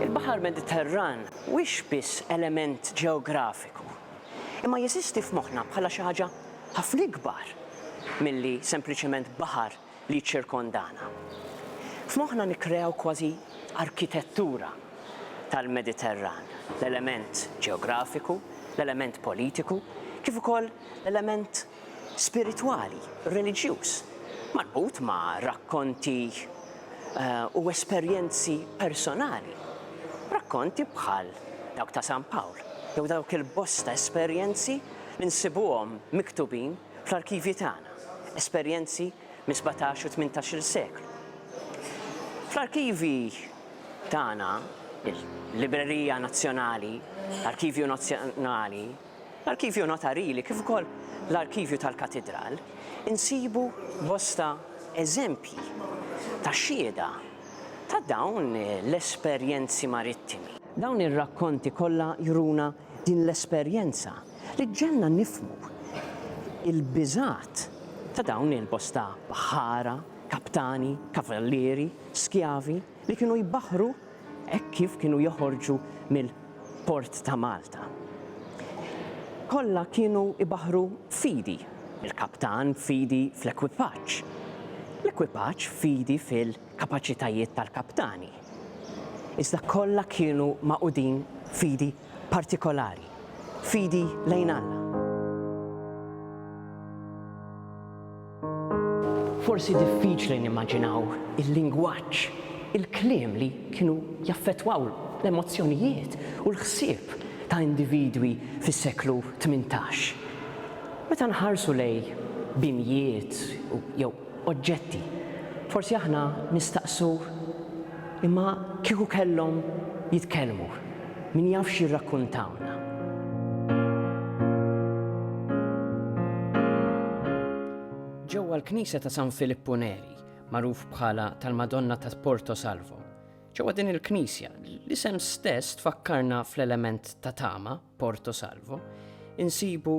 Il-Baħar Mediterran mhuwiex biss element ġeografiku, imma jeżisti f'moħħna bħala xi ħaġa ħafna ikbar milli sempliċement baħar li jiċċirkondana. F'moħħna nikkreaw kważi arkitettura tal-Mediterran, l-element ġeografiku, l-element politiku, kif ukoll l-element spiritwali, reliġjuż, marbut ma' rakkonti u esperjenzi personali. Rakkonti bħal dawk ta' San Pawl jew dawk il-bosta esperjenzi li nsibuhom miktubin fl-arkivji tagħna, esperjenzi mis-sebgħtax u tmintax-il seklu. Fl-arkivji tagħna, il-Librerija Nazzjonali, l-Arkivju Nazzjonali, L-Arkivju Notarili kif ukoll l-Arkivju tal-Katidral insibu bosta eżempji ta' xhieda ta' dawn l-esperjenzi marittimi. Dawn ir-rakkonti kollha juruna din l-esperjenza li ġġegħelna nifhmu l-biżgħat ta' dawn il-bosta baħħara, kaptani, kavallieri, skjavi li kienu jbaħħru Hekk kif kienu joħorġu mill-port ta' Malta. Kollha kienu jbaħħru fidi, il-kaptan fidi fl-ekwipaġġ, l-ekwipaġġ fidi fil-kapaċitajiet tal-kaptani. Iżda kollha kienu magħqudin fidi partikolari, fidi lejn Alla. Forsi diffiċli nimmaġinaw il-lingwaġġ, il-kliem li kienu jaffettwaw l-emozzjonijiet u l-ħsieb ta' individwi fis-seklu tmintax. Meta nħarsu lejn binjiet jew oġġetti. Forsi aħna nistaqsu, Imma kieku kellhom jitkellmu, min jaf x'jirrakkuntawna? Ġewwa l-knisja ta' San Filippu Neri, magħruf bħala tal-Madonna ta' Porto Salvo, ġewwa din il-knisja, l-isem stess tfakkarna fl-element ta' tama, Porto Salvo, insibu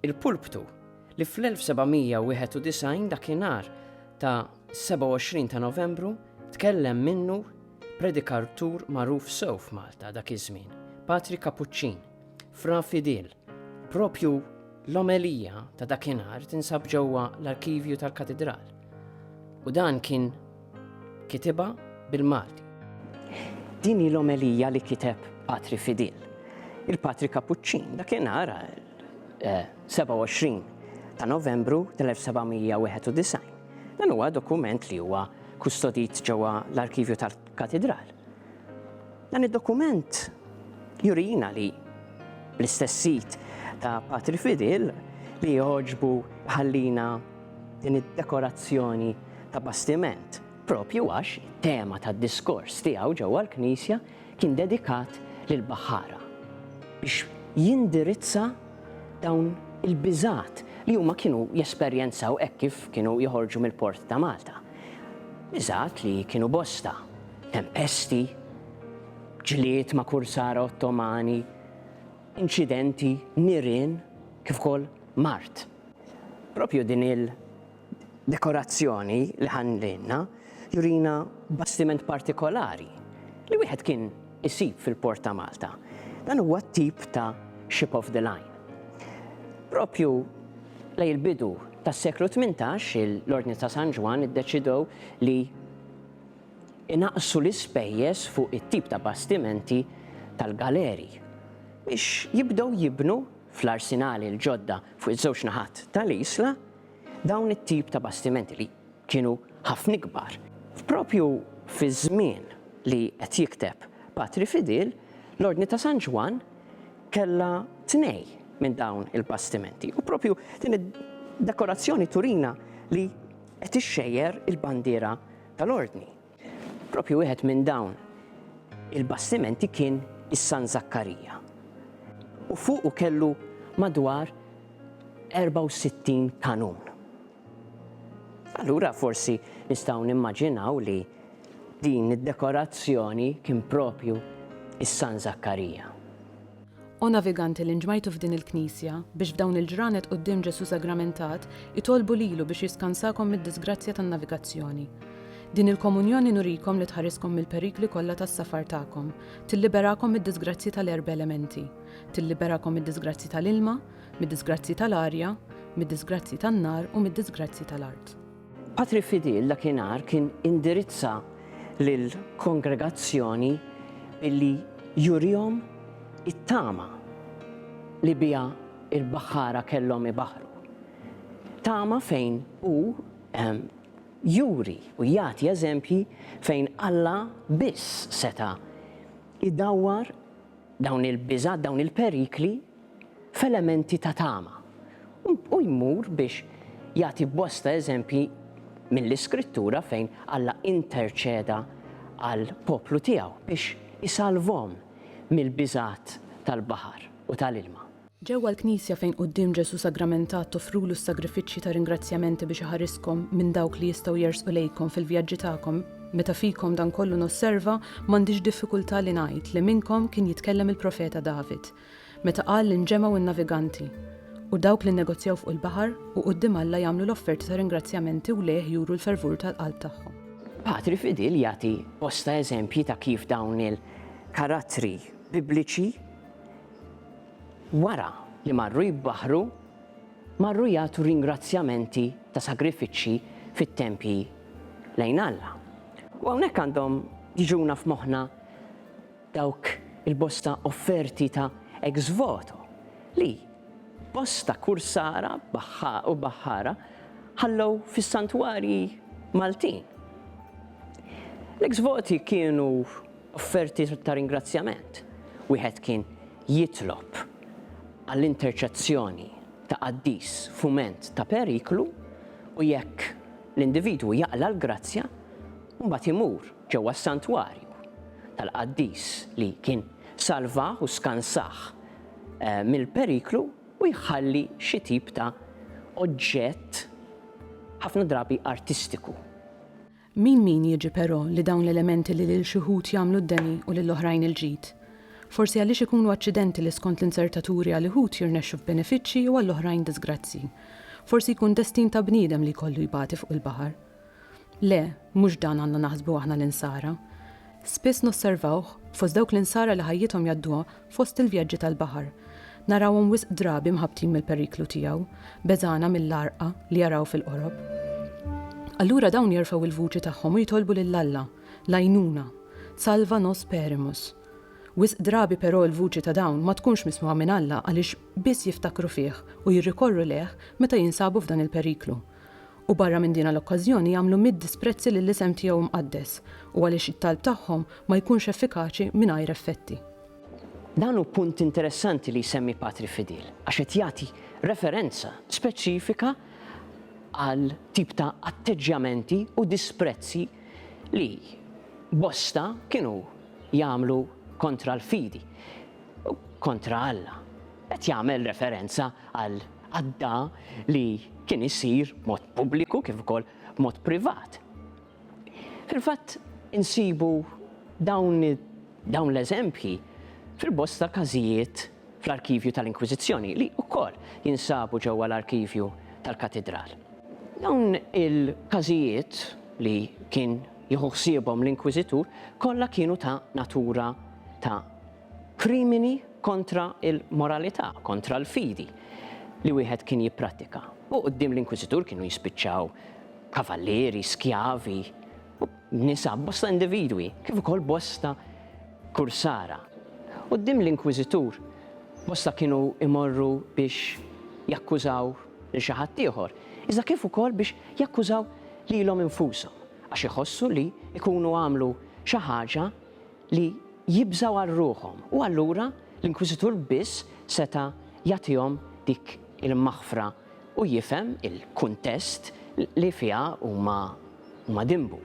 Il-pulptu, li fl-1791 dakinhar ta' 27 ta' Novembru tkellem minnu predikartur magħruf sew f'Malta dak iż-żmien, Patri Kapuċċin, Fra Fidil, propju l-omelija ta' dakinhar tinsab ġewwa l-arkivju tal-Katidral. U dan kien kitibha bil-Malti. Din hi l-omelija li kiteb Patri Fidil. Il-Patri Kapuċċin dakinhar 27 eh, ta' Novembru tal-1791. Dan huwa dokument li huwa kustodit ġewwa l-arkivju tal-katidral. Dan id-dokument jurina li bl-istess sit ta' Patri Fidil li joġbu ħallina Din id-dekorazzjoni ta' bastiment, proprju għax it-tema tad-diskors tiegħu ġewwa l-knisja kien dedikat lill-baħħara, biex jindirizza dawn il-biżgħat li huma kienu jesperjenzaw hekk kif kienu joħorġu mill-port ta' Malta. Biżgħat li kienu bosta, tempesti, ġlied ma' kursara Ottomani, inċidenti, nirien, kif ukoll mard. Propju din il dekorazzjoni li ħallilna jurina bastiment partikolari li wieħed kien isib fil-port ta' Malta. Dan huwa tip ta' ship of the line. Propju lej il-bidu tas-seklu 18 l-Ordni ta' San Ġwann iddeċidew li inaqqsu l-ispejjeż fuq it-tip ta' bastimenti tal-galeri biex jibdew jibnu fl-arsinali l-ġodda fuq iż-żewġ naħat tal-isla, dawn it-tip ta' bastimenti li kienu ħafna ikbar. Propju fiż-żmien li qed jikteb Patri Fidil, l-Ordni ta' San Ġwann kellha tnej minn dawn il-bastimenti u propju din id-dekorazzjoni turina li qed ixxejjer il-bandiera tal-Ordni. Proprju wieħed minn dawn il-bastimenti kien is-San Zakkarija u fuqu kellu madwar 64 kanun. Allura forsi nistgħu nimmaġinaw li din id-dekorazzjoni kien proprju is-San Zakkarija. O naviganti li nġmajtu f'din il-Knisja, biex f'dawn il-ġranet quddiem Ġesù Sagramentat, itolbu lilu biex jiskansakom mid-diżgrazzja tan-navigazzjoni. Din il-Komunjoni nurikom li tħariskom mill-perikli kollha tas-safar tagħkom, tilliberakom mid-diżgrazzji tal-erba' elementi, tilliberakom mid-diżgrazzji tal-ilma, mid-diżgrazzji tal-arja, mid-diżgrazzji tan-nar u mid-diżgrazzji tal-art. Patri Fidil dakinhar kien indirizza lill-kongregazzjoni billi jurihom it-tama li biha l-baħħara kellhom ibaħħru. Tama fejn hu juri u jagħti eżempji fejn Alla biss seta' jdawwar dawn il-biżgħat, dawn il-perikli, f'elementi ta' tama, u jmur biex jagħti bosta eżempji mill-Iskrittura fejn Alla interċeda għall-poplu tiegħu biex isalvhom mill-biżgħat tal-baħar u tal-ilma. Ġewwa l-Knisja fejn quddiem Ġesù sagramentat toffrulu s-sagrifiċċji ta' ringrazzjamenti biex iħariskom minn dawk li jistgħu jersqu lejkom fil-vjaġġi tagħkom, meta fikom dan kollu nosserva, m'għandix diffikultà li ngħid li minnkom kien jitkellem il-profeta David. meta qal li nġemgħu n-naviganti u dawk li nnegozjaw fuq il-baħar u quddiem Alla jagħmlu l-offerti ta' ringrazzjamenti u lejh juru l-fervur tal-qalb tagħhom. Patri Fidil jagħti bosta eżempji ta' kif dawn il-karattri Bibliċi wara li marru jibbaħħru marru jagħtu ringrazzjamenti ta' sagrifiċċji fit-tempji lejn Alla. U hawnhekk għandhom jiġuna f'moħħna Dawk il-bosta offerti ta' ex voto li bosta kursara u baħħara ħallew fis-santwarji Maltin. L-ex voti kienu offerti ta' ringrazzjament. Wieħed kien jitlob għall-interċezzjoni ta' qaddis f'mument ta' periklu u jekk l-individwu jaqla' l-grazzja, mbagħad imur ġewwa s-santwarju tal-qaddis li kien salvah u skansah mill-periklu u jħalli xi tip ta' oġġett ħafna drabi artistiku. Min min jiġi però li dawn l-elementi li lil xi wħud jagħmlu d-deni u lil oħrajn il-ġid? Forsi għaliex ikunu aċċidenti li skont l-inzertaturi għal uħud jirnexxu f'benefiċċji u għall-oħrajn diżgrazzji. Forsi jkun destin ta' bniedem li jkollu jbati fuq il-baħar. Le, mhux dan għandna naħsbu aħna l-Insara. Spiss nosservawh fost dawk l-Insara li ħajjithom jgħadduha fost il-vjaġġi tal-baħar. Narawhom wisq drabi mħabbtin mill-periklu tiegħu, beżgħana mill-għarqa li jaraw fil-qorob. Allura dawn jerfgħu l-vuċi tagħhom u jitolbu lil Alla l-għajnuna, Salva nos perimus. Wisq drabi però l-vuċi ta' dawn ma tkunx mismugħa minn Alla għaliex biss jiftakru fih u jirrikorru lejh meta jinsabu f'dan il-periklu. u barra minn dina l-okkażjoni jagħmlu mitt disprezzi lill-isem tiegħu mqaddes u għaliex it-talb tagħhom ma jkunx effikaċi mingħajr effetti. Dan hu punt interessanti li jsemmi Patri Fidil għax qed jagħti referenza speċifika għal tip ta' atteġġjamenti u disprezzi li bosta kienu jagħmlu kontra l-fidi, kontra Alla. Qed jagħmel referenza għal għadda li kien isir b'mod pubbliku kif ukoll b'mod privat. Fil-fatt insibu dawn dawn l-eżempji fil-bosta każijiet fl-arkivju tal-Inkwiżizzjoni li wkoll jinsabu ġewwa l-arkivju tal-Katidral. Dawn il-każijiet li kien jieħu ħsiebhom l-Inkwiżitur kollha kienu ta' natura ta' Krimini kontra l-moralità, kontra l-fidi li wieħed kien jipprattika. U quddiem l-inkwiżitur kienu jispiċċaw kavallieri, skjavi, nisa, bosta individwi, kif ukoll bosta kursara. Quddiem l-inkwiżitur bosta kienu jmorru biex jakkużaw lil xi ħadd ieħor, iżda kif ukoll biex jakkużaw lilhom infushom, għax iħossu li jkunu għamlu xi ħaġa li jibżgħu għal ruħhom, u allura l-inkwiżitur biss seta' jagħtihom dik il-maħfra u jifhem il-kuntest li fiha huma dinbu.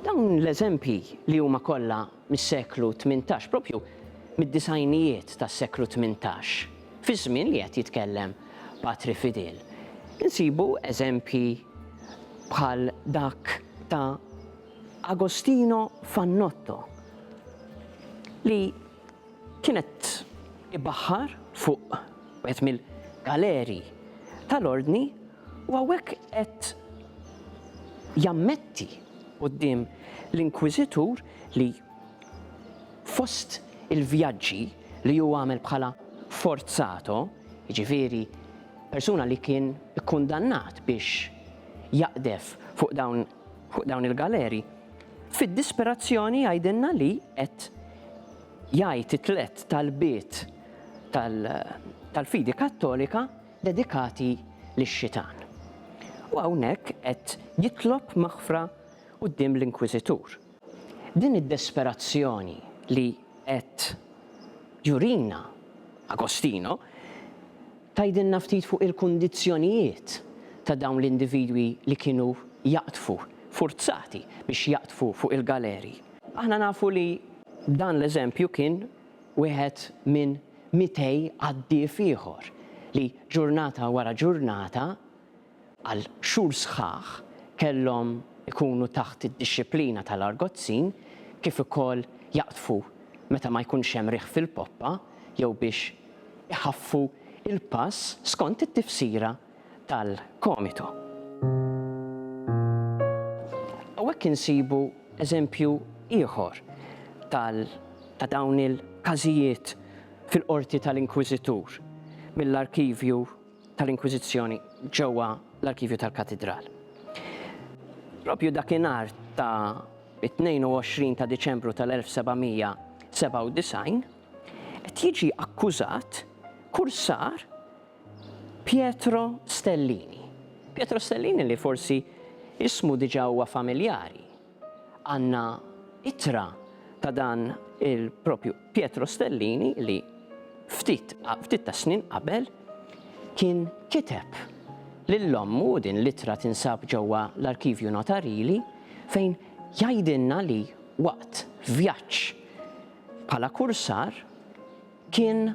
Dawn l-eżempji li huma kollha mis-seklu tmintax, proprju mid-disgħinijiet tas-seklu tmintax, fiż-żmien li qed jitkellem Patri Fidel, insibu eżempji bħal dak ta' Agostino Fannotto li kien qed ibaħħar fuq wieħed mill-galeri tal-Ordni u hawnhekk qed jammetti quddiem l-Inkwiżitur li fost il-vjaġġi li hu għamel bħala forzato, jiġifieri persuna li kien ikkundannat biex jaqdef fuq dawn fuq dawn il-galeri, fid-disperazzjoni jgħidilna li qed jgħid it-tliet talbiet tal-fidi Kattolika dedikati lix-xitan. U hawnhekk qed jitlob maħfra quddiem l-Inkwiżitur. Din id-desperazzjoni li qed jurina Agostino tgħidilna ftit fuq il-kundizzjonijiet ta' dawn l-individwi li kienu jaqdfu, furzati biex jaqdfu fuq il-galeri. Aħna nafu li dan l-eżempju kien wieħed minn mitej għaddief ieħor li ġurnata wara ġurnata għal xhur sħaħ kellhom ikunu taħt id-dixxiplina tal-argozzin kif ukoll jaqdfu meta ma jkunx hemm riħ fil-poppa jew biex iħaffu l-pass skont it-tifsira tal-Comito. Hawnhekk insibu eżempju ieħor tal ta' dawn il-każijiet fil-qorti tal-Inkwiżitur mill-arkivju tal-Inkwiżizzjoni ġewwa l-arkivju tal-Katidral. Propju dakinhar ta' it-22 ta' Diċembru tal-1797 qed jiġi akkużat kursar Pietro Stellini. Pietro Stellini li forsi ismu diġà huwa familjari Għandna ittra ta' dan il-propju Pietro Stellini li ftit ftit tas-snin qabel kien kiteb lil ommu, u din l-ittra tinsab ġewwa l-Arkivju Notarili, fejn jgħidilna li waqt vjaġġ bħala kursar, Kien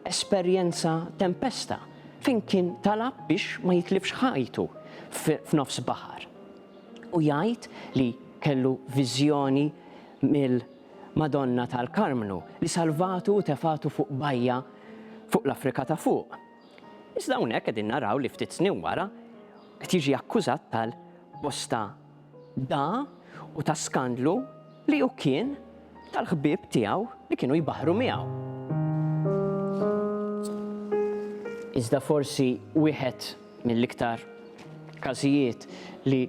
esperjenza tempesta fejn kien talab biex ma jitlifx ħajtu f'nofs baħar. U jgħid li kellu viżjoni mill-Madonna tal-Karmnu li salvatu u tefgħatu fuq bajja fuq l-Afrika ta' Fuq. Iżda hawnhekk qegħdin naraw li ftit snin wara qed jiġi akkużat tal-bosta Da hu ta' skandlu li hu kien tal-ħbieb tiegħu li kienu jbaħħru miegħu. Iżda forsi wieħed mill-iktar każijiet li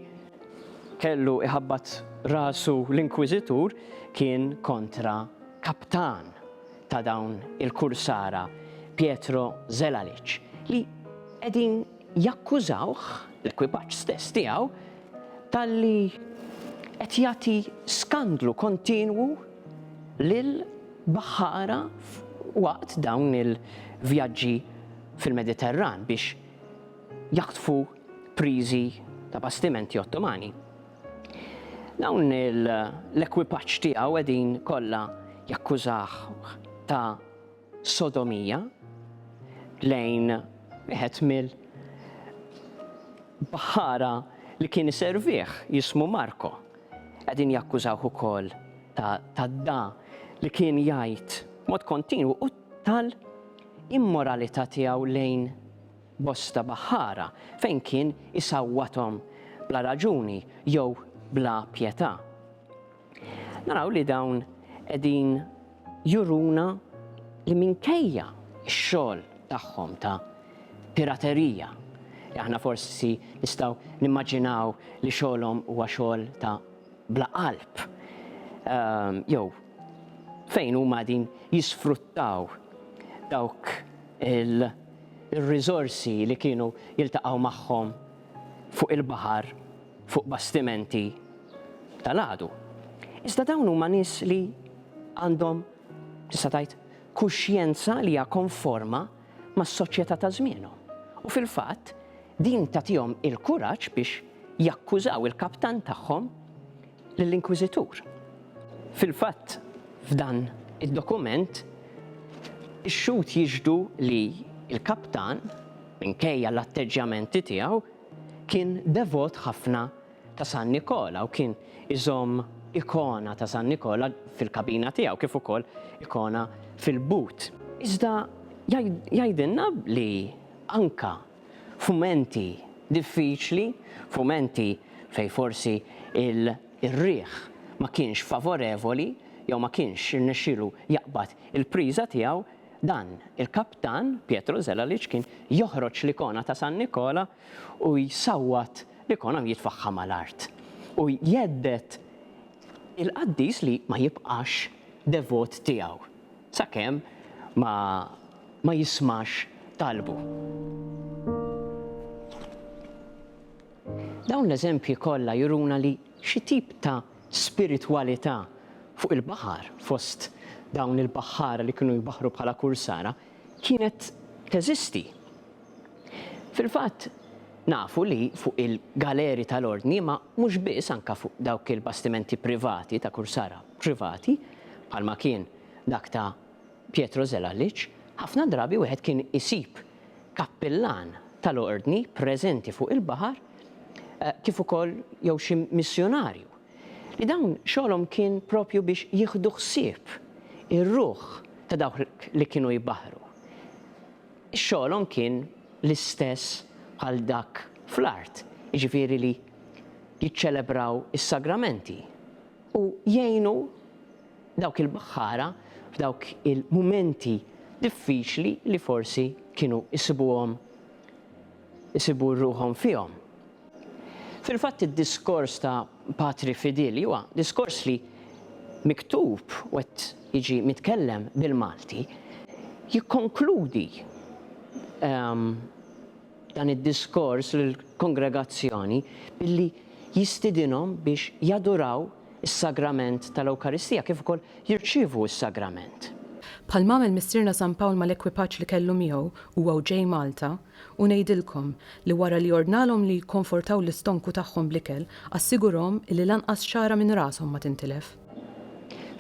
kellu iħabbat rasu l-Inkwiżitur kien kontra kaptan ta' dawn il-kursara, Pietro Zelalic, li qegħdin jakkużawh, l-ekwipaġġ stess tiegħu, talli qed jagħti skandlu kontinwu lil baħħara waqt dawn il-vjaġġi fil-Mediterran biex jaħtfu priżi ta' bastimenti Ottomani. Dawn l-ekwipaġġ tiegħu qegħdin kollha jakkużawh ta' sodomija lejn wieħed mill baħħara li kien iservih jismu Marko. Qegħdin jakkużawh ukoll ta' tadda li kien jgħid mod kontinwu u tal immoralità tiegħu lejn bosta baħħara fejn kien isawwathom bla raġuni jew bla pjetà. Naraw li dawn qegħdin juruna li minkejja x-xogħol tagħhom ta' piraterija, li aħna forsi nistgħu nimmaġinaw li xogħolhom huwa xogħol ta' bla qalb, ehm, jew fejn huma qegħdin jisfruttaw dawk il-riżorsi li kienu jiltaqgħu magħhom fuq il-baħar fuq bastimenti tal-għadu. Iżda dawn huma nies li għandhom, tista' tgħid, kuxjenza li hija konforma mas-soċjetà ta' żmienhom. U fil-fatt, din tagħtihom il-kuraġġ biex jakkużaw il-kaptan tagħhom lill-Inkwiżitur. Fil-fatt, f'dan id-dokument, ix-xhud jixhdu li l-kaptan, minkejja l-atteġġjamenti tiegħu, kien devot ħafna ta' San Nikola u kien iżomm ikona ta' San Nikola fil-kabina tiegħu kif ukoll ikona fil-but. Iżda jgħidilna li anke f'mumenti diffiċli, f'mumenti fejn forsi r-riħ ma kienx favorevoli jew ma kienx irnexxielu jaqbad il-priża tiegħu, dan il-kaptan, Pietro Zelalic, kien joħroġ l-ikona ta' San Nikola u jsawwat l-ikona u jitfagħha mal-art. U jhedded il-qaddis li ma jibqax devot tiegħu. Sakemm ma ma jismax talbu. Dawn l-eżempji kollha juruna li xi tip ta' spiritwalità fuq il-baħar fost dawn il-baħħara li kienu jbaħħru bħala kursara kienet teżisti. Fil-fatt, nafu li fuq il-galeri tal-Ordni, imma mhux biss anke fuq dawk il-bastimenti privati ta' kursara privati, bħalma kien dak ta' Pietro Zelalic, ħafna drabi wieħed kien isib kappillan tal-Ordni preżenti fuq il-baħar kif ukoll jew xi missjunarju, li dawn xogħolhom kien proprju biex jieħdu ħsieb ir-ruħ ta' dawk li kienu jbaħħru. Xogħolhom kien l-istess bħal dak fl-art, jiġifieri li jiċċelebraw is-sagramenti u jgħinu dawk il-baħħara f'dawk il-mumenti diffiċli li forsi kienu jsibuhom isibu ruħhom fihom. Fil-fatt id-diskors ta' Patri Fidili huwa diskors li miktub u qed jiġi mitkellem bil-Malti, jikkonkludi dan id-diskors lill-kongregazzjoni billi jistidinhom biex jaduraw is-Sagrament tal-Ewkaristija kif ukoll jirċievu s-Sagrament. Bħalma għamel Missierna San Pawl mal-ekwipaġġ li kellu miegħu huwa u ġej Malta, U ngħidilkom li wara li ordnalhom li jikkonfortaw l-istonku tagħhom bl-ikel, assigurahom illi lanqas xagħra minn rashom ma tintilef.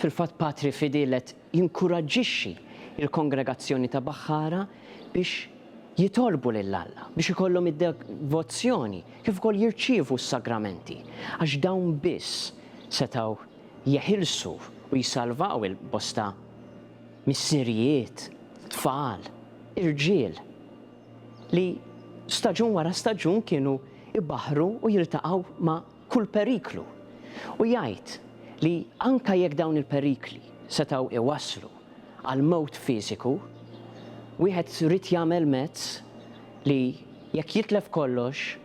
Fil-fatt Patri Fidil qed jinkuraġġixxi l-kongregazzjoni ta' Baħħara biex jitolbu lil Alla, biex ikollhom id-devozzjoni kif ukoll jirċievu s-sagramenti, għax dawn biss setgħu jeħilsu u jsalvaw il-bosta missirijiet, tfal, irġiel li staġun wara staġun kienu jbaħħru u jiltaqgħu ma' kull periklu. U jgħid li anke jekk dawn il-perikli setgħu jwasslu għal mewt fiżiku, wieħed ried jagħmel mezz li jekk jitlef kollox,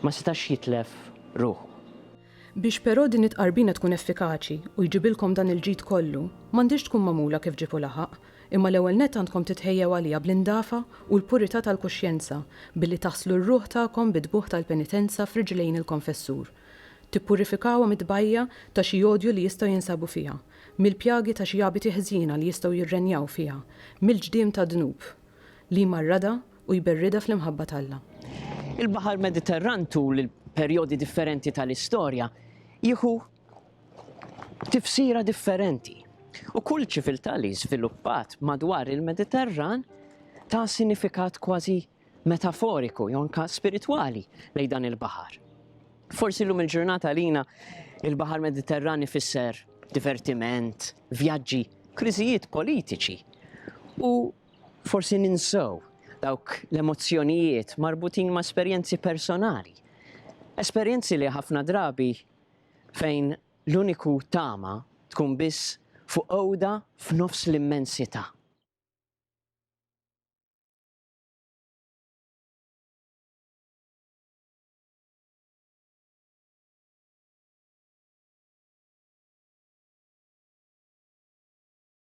ma setax jitlef ruħu. Biex però din it-tqarbina tkun effikaċi u jġibilkom dan il-ġid kollu, m'għandhiex tkun magħmula kif ġieb u laħaq, imma l-ewwel nett għandkom titħejjew għaliha bl-indafa u l-purità tal-kuxjenza, billi taħslu r-ruħ tagħkom bid-dmugħ tal-penitenza f'riġlejn il-konfessur. Tippurifikawha mit-tbajja' ta' xi odju li jistgħu jinsabu fiha, mill-pjagi ta' xi abiti ħżiena li jistgħu jirrenjaw fiha, mill-ġdiem tad-dnub li jmarradha, u jberridha fl-imħabba t'Alla. Il-Baħar Mediterran tul il-perjodi differenti tal-istorja jieħu tifsira differenti, u kull ċiviltà li żviluppat madwar il-Mediterran ta sinifikat kważi metaforiku jew anke spiritwali lejn dan il-baħar. Forsi llum il-ġurnata għalina il-Baħar Mediterran ifisser divertiment, vjaġġi, kriżijiet politiċi u Forsi ninsew dawk l-emozzjonijiet marbutin ma' esperjenzi personali. Esperjenzi li ħafna drabi fejn l-uniku tama tkun biss fuq għoda f'nofs l-immensità.